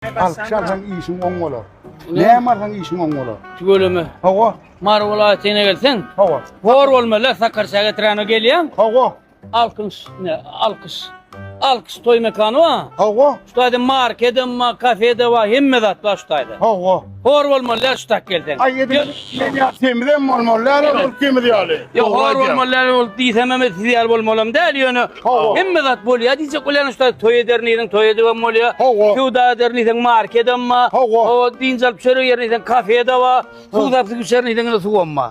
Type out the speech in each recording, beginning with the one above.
Alkyş alsaň işiň oň bolar. Näme alsaň işiň oň bolar. Tüweleme. Hawa. Mary welaýatyna gelseň. Hawa. Bor bolmaly Sakarşa getirene gelýän. Hawa. Alkyş ne? Alkyş. Alkyş toý mekany wa. Hawa. Şu taýda market hem, kafe de wa hemme zat bar şu taýda. Hawa. Hor bolmalylar şu tak gelseň. Ay edin men ya temizem olmalylar ol temiz yaly. Ya hor bolmalylar ol diýsem hem siz ýaly bolmalam däl ýöne hemme zat bolýar diýjek bilen şu toý eder niýetin toý edibem bolýar. Söwda eder niýetin market hem bar. Hawa diýinç alyp çörek ýer niýetin kafe de bar. Suw tapyp içer niýetin suw hem bar.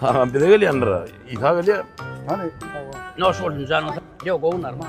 Tamam bize gelýändir. Isa gelýär. Hany? Noş bolsun janyň sag. Ýok, gowy narmal.